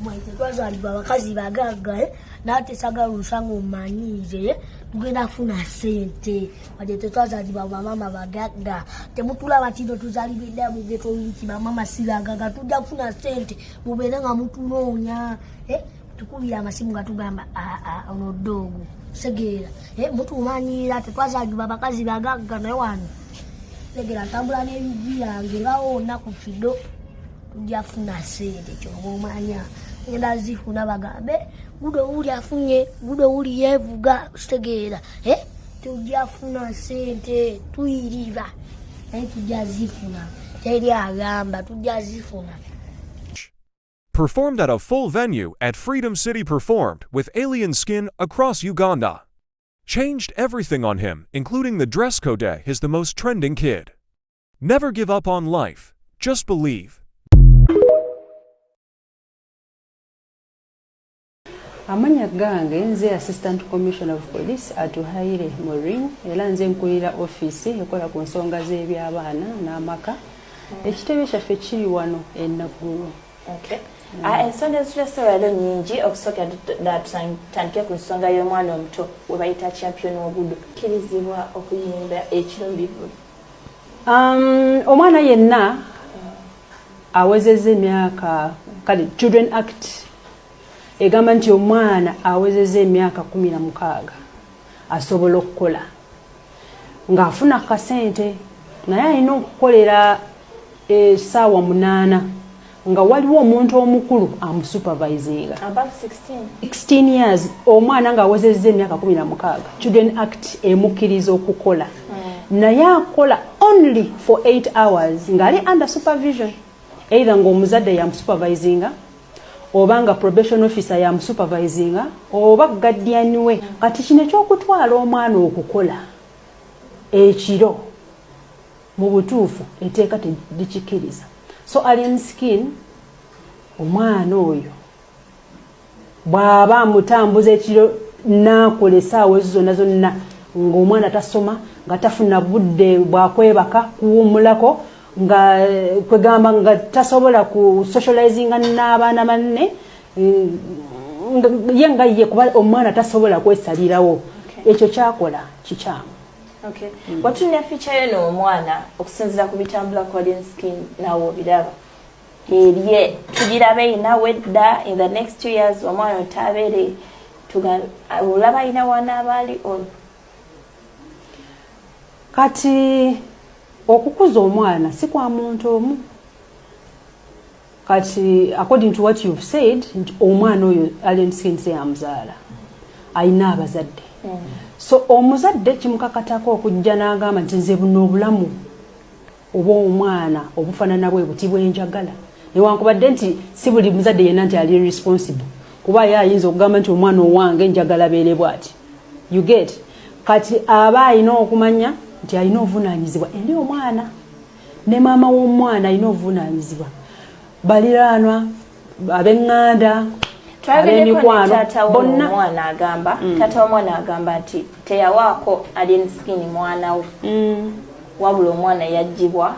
mwete twazalibwa abakazi bagagga eh? nate sagala olusanga omanyiize eh? tugenda funa sente wadde tetwazalibwa bamama bagagga temutulaba tino tuzalibwa edda mugetoliki bamama siragaga tujja kufuna sente mubeere nga mutunoonya eh? tukubira amasimu nga tugamba ah, ah, ono ddoogo segeera mutumanyiira tetwazalibwa bakazi bagagga naye wano segera ntambula n'ebigi yange bawo onaku kido njafuna sente kyoba omanya ngenda zifuna bagambe gudo wuli afunye gudo wuli yevuga kitegeera eh? tujafuna sente tuyiriba naye tujja zifuna teri agamba tujja zifuna Performed at a full venue at Freedom City performed with alien skin across Uganda. Changed everything on him, including the dress code. He's the most trending kid. Never give up on life, just believe. amanya gange nze assistant commissioner of police atuhaire morin era nze nkulira ofiisi ekola ku nsonga z'eby'abaana n'amaka ekitebe kyaffe kiri wano enaggulu ah, ensonga ezitulese leero nyingi okusookera tutandike ku nsonga y'omwana omuto webayita champion ogudu kirizibwa okuyimba ekiro bivulu Um, omwana yenna awezeza emyaka kale children act egamba nti omwana awezeza emyaka kumi na mukaaga asobola okukola ng'afuna kasente naye alina okukolera esaawa munaana nga waliwo omuntu omukulu amusupervisinga 16 years omwana nga awezezza emyaka 16 children act emukkiriza okukola hmm. naye akola only for 8 hours ngaali under supervision either ngaomuzadde yamusupervisinga oba nga probation officer yamusupervisinga oba guardian we hmm. kati kino ekyokutwala omwana okukola ekiro Mu butuufu eteeka terikikiriza. So Alien Skin omwana oyo bwaba amutambuza ekiro naakola esaawa ezo zonna zonna ng'omwana tasoma nga tafuna budde bwakwebaka kuwumulako nga eh, kwegamba nga tasobola ku socializinga n'abaana banne mm, ye nga ye kuba omwana tasobola kwesalirawo ekyo kyakola kikyamu Okay. Mm. Watunya feature yo n'omwana okusinzira ku bitambula ku Alien Skin nawe obiraba. Eriye tugirabe ina wedda in the next two years omwana otabere tuga olaba ina wana abali on. Kati okukuza omwana si kwa muntu omu. kati according to what you've said nti omwana oyo alien skin se amzaala ayina abazadde mm. so omuzadde kimukakatako okujja n'agamba nti nze buno obulamu oba omwana obufanana bwe buti bwenjagala newankubadde nti si buli muzadde yenna nti ali responsible kuba ye ayinza okugamba nti omwana owange njagala beere bwati you get kati aba alina okumanya nti alina obuvunaanyizibwa eri omwana ne maama w'omwana alina obuvunaanyizibwa baliraanwa ab'eŋŋanda ab'emikwano bonna omwana agamba mm. taata w'omwana agamba nti teyawaako alinsikini mwana we mm. wabula omwana yaggyibwa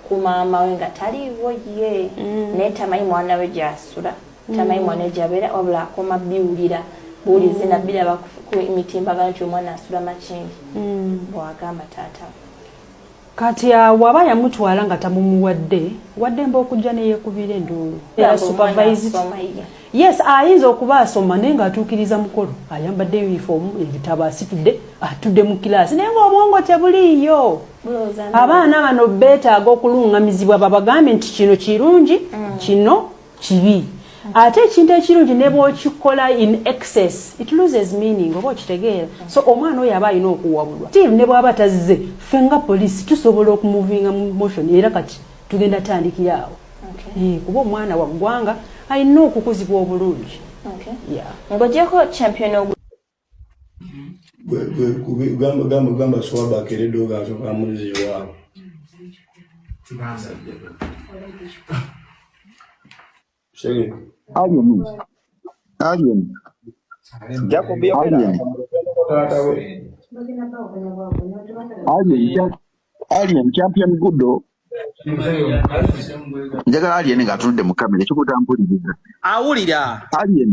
ku maama we nga taliiwo ye mm. naye tamanyi mwana we gyasula tamanyi mwana we gyabeera wabula akoma biwulira buwulizi nabbiraba ku mitimbagano nti omwana asula makingi bwagamba taata we kati awo aba yamutwala nga tamumuwadde waddemba okujja neyekubira enduulu yes ayinza okuba asoma naye ngaatuukiriza mukolo ayambadde unifoomu ebitabo asitudde atudde mu kilaasi naye ngaobwongo tebuliiyo abaana bano beetaaga okulungamizibwa babagambye nti kino kirungi mm. kino kibi ate ekintu ekirungi ne bwokikola in excess it loses meaning oba okitegeera so omwana oyo aba alina okuwabulwa til ne bwaba tazze ffe nga poliisi tusobola okumuvinga mu motion era kati tugenda tandikira awo eh, kuba omwana wa ggwanga alina okukuzibwa obulungi ng'ogyeko champion gamba gamba gamba swaba akeredde ogasoka muzi waabo alien champion gudo njagala alien ng'atunudde mu kamera ekikuta mpuliriza awulira alien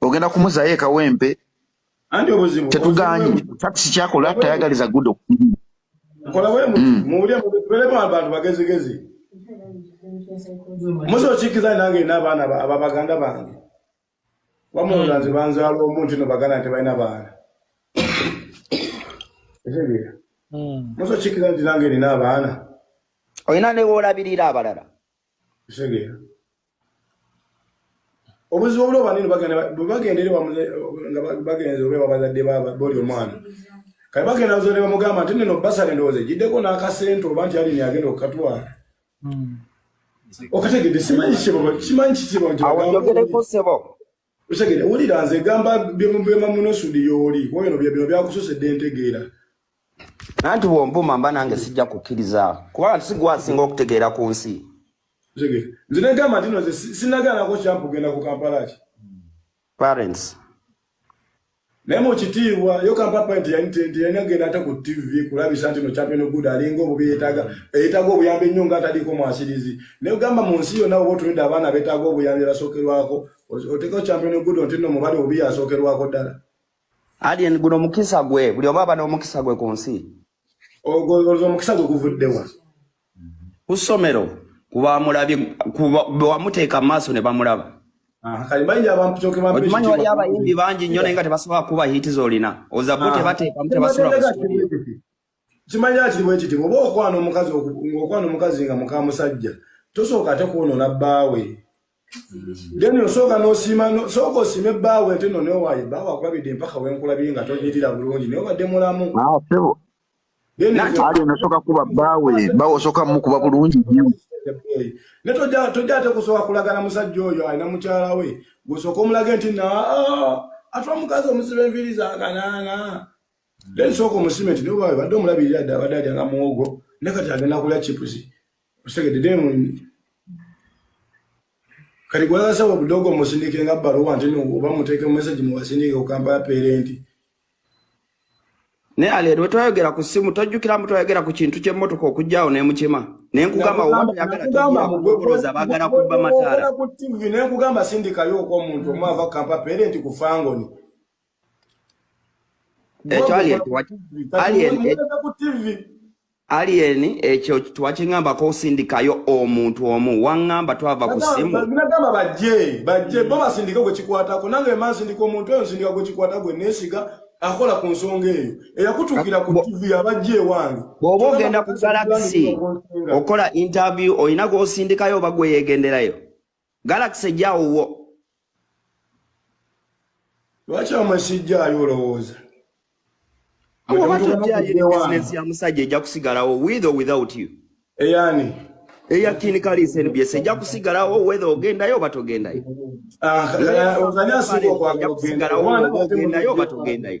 ogenda kumuzayo ekawempe tetuganyi takisi kyakola tayagaliza gudo musa okikiza nange ina abaana ababaganda bange bamuloza nze banzaala omuntu no baganda nti balina baana etegeera hmm. musa okikiza nti nange nina abaana olina newoolabirira abalala etegeera obuzibu obulo banene bagenda bagenda eri wamule nga bagenda obe wabazadde baba boli omwana kale bagenda zole bamugamba nti nino basale ndoze jideko na kasento banti ali ni agenda okatwa hmm. okategede simanyi kibo simanyi kibo nti awo yogere ko sebo Osegere wulira nze gamba byemubema muno sudi yoli woyo no byebino byakusose dentegeera nanti wombuma mba nange sijja kukiriza kuba sigwa singa okutegeera ku nsi Osegere nze ne gamba tino nze sinagala ko champ genda ku Kampala ki parents Naye mu kitiibwa yo kampapa nti yalina genda ate ku ttivi kulabisa nti no champion good alinga obubi yeetaaga eyeetaaga obuyambi ennyo nga ataliiko mwasirizi naye ogamba mu nsi yonna oba otunudde abaana beetaaga obuyambi basookerwako oteekao champion good nti no mubali obubi yasookerwako ddala alien guno omukisa gwe buli oba aba n'omukisa gwe ku nsi ogwo omukisa gwe guvuddewa ku ssomero kubamulabye bewamuteeka mu maaso ne bamulaba okimanyi wali abayimbi bangi nnyo naye nga tebasobola kuba hiiti zolina ozabbo ah. tebateekamu tebasula kimanya kiri bwekiti oba okwana omukazi okwana omukazi nga mukamusajja tosooka ate kwonoona bbaawe Deni osooka n'osiima sooka osiime bbaawe ate no newaayi bbaawe akulabidde mpaka wenkulabye nga tonyirira bulungi naye obadde mulamu ah, sebo ali nosooka kuba bbaawe bbaawe osooka mukuba bulungi ne tojja ate kusooka kulagana musajja oyo alina mukyala we gwosooka omulage nti na ah, atwa mukazi omuziba enviiri zakanaana then sooka omusime nti newaayi badde omulabirira dda abadde alya nga muwogo ne kati agenda kulya chipusi Osegede demu kati gwagasa obudogo musindike nga baluwa nti no oba muteeke mu message mu wasindike ku Kampala parent ne ale lwe twayogera ku simu tojjukira mbu twayogera ku kintu ky'emmotoka okujjaawo n'emukima ne nkugamba obayagalaaza bagala kubba mataala ne nkugamba sindikayo oko omuntu omwava kampa parent ku fangoni ekyo alien alien alien ekyo twakingambako osindikayo omuntu omu wangamba twava ku simu nagamba bajje bajje bo basindike gwe kikwatako nange emansi ndika omuntu oyo nsindika gwe kikwata gwe nesiga akola ku nsonga eyo eyakutukira ku tv abajja ewange bwoba ogenda ku galaxy okola interview olina gwosindikayo oba gweyegenderayo Galaxy ejja wuwo. Lwaki amasijjaayo olowooza? Business ya musajja ejja kusigalawo with or without you. Eyani. Eya kini kali SNBS ejja kusigalawo whether ogendayo oba togendayo. Ah, ozanya sibo kwa kugendayo oba togendayo.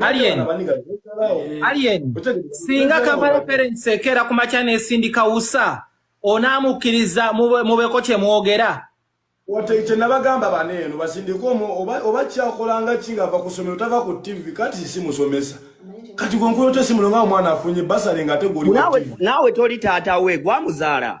Alien. Eh. Alien. Singa Kampala Parents ekera ku makya n'esindika usa onaamukkiriza mubeeko kye mwogera oteite nabagamba bana eno basindika oba kyakolanga ki nga ava ku ssomero tava ku ttivi kati si musomesa kati gwenkoyote simulo nga omwana afunye basale nga ate guli naawe toli taata we gwamuzaala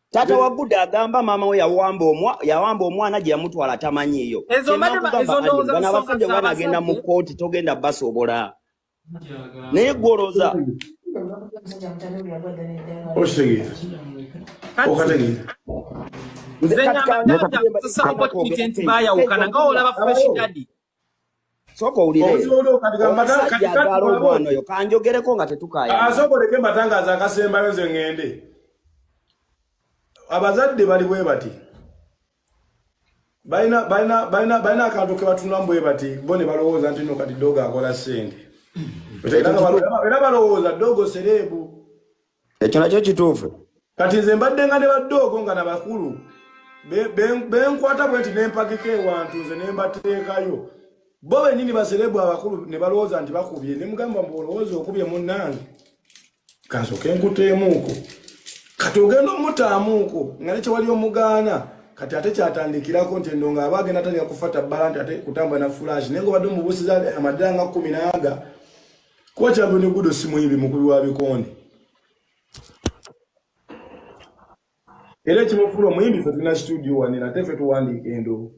taata wa guda agamba maama we yawamba omwa yawamba omwana gye yamutwala tamanyiiyo abasajja bana agenda mu kooti togenda basobola naye gwoloza okitegeera okategeera nze nyamba nti bayawukana nga olaba fresh daddy soka owulireomusajjaagalaomwanoyo kanjogereko nga tetukayasokoleke ah, matangazo akasembayo nze ngende abazadde bali bwe bati balina akantu kebatunulamu bwe bati bo ne balowooza nti no kati dogo akola sente era balowooza dogo sereebu ekyo nakyo kituufu kati nze mbadde nga ne baddoogo nga nabakulu benkwata bwe nti nempakika ewantu nze nembateekayo bo benyini baserebu abakulu ne balowooza nti bakubye ne mugamba mbu olowooza okubye munnange kansoke nkuteemuuko kati ogenda omutaamuuko nga nekyewali omugaana kati ate kyatandikirako nti endo nga aba agenda atandika kufata bbala nti ate kutambula na fulashi naye nga obadde omubuusiza amadira nga kumi naaga kuba kyagwe ne gudo simuyibi mukulu wa bikonde era ekimufuula omuyimbi fe tulina situdio wanene ate fe tuwandiika endoo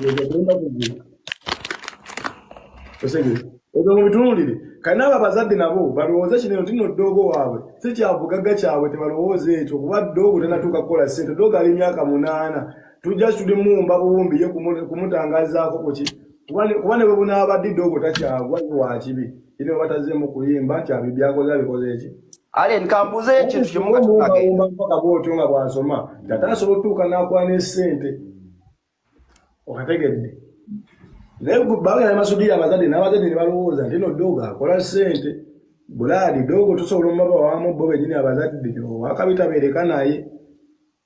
yegagenda kugula osegere ebyo mubitunulire kati naabo abazadde nabo balowooza kino nti no ddoogo waabwe si kyabugagga kyabwe tebalowooza ekyo kuba ddoogo tanatuuka kukola sente ddoogo ali emyaka munaana tujja situde mumba buwumbi ye kumutangazaakokoki kuba ne bwe bunaabadde doogo takyagwa ye wakibi ine batazeemu kuyimba nti abi byakoze abikoze eki alen kambuze ekintu kimugaumba mpaka bwotyo nga bwasoma tata asobola otutuuka n'akwana esente okategedde naye bagenda masudiri abazadde n'abazadde ne balowooza nti no doogo akola sente bulaadi doogo tusobola omubaba wamu bo benyini abazadde wakabitabeereka naye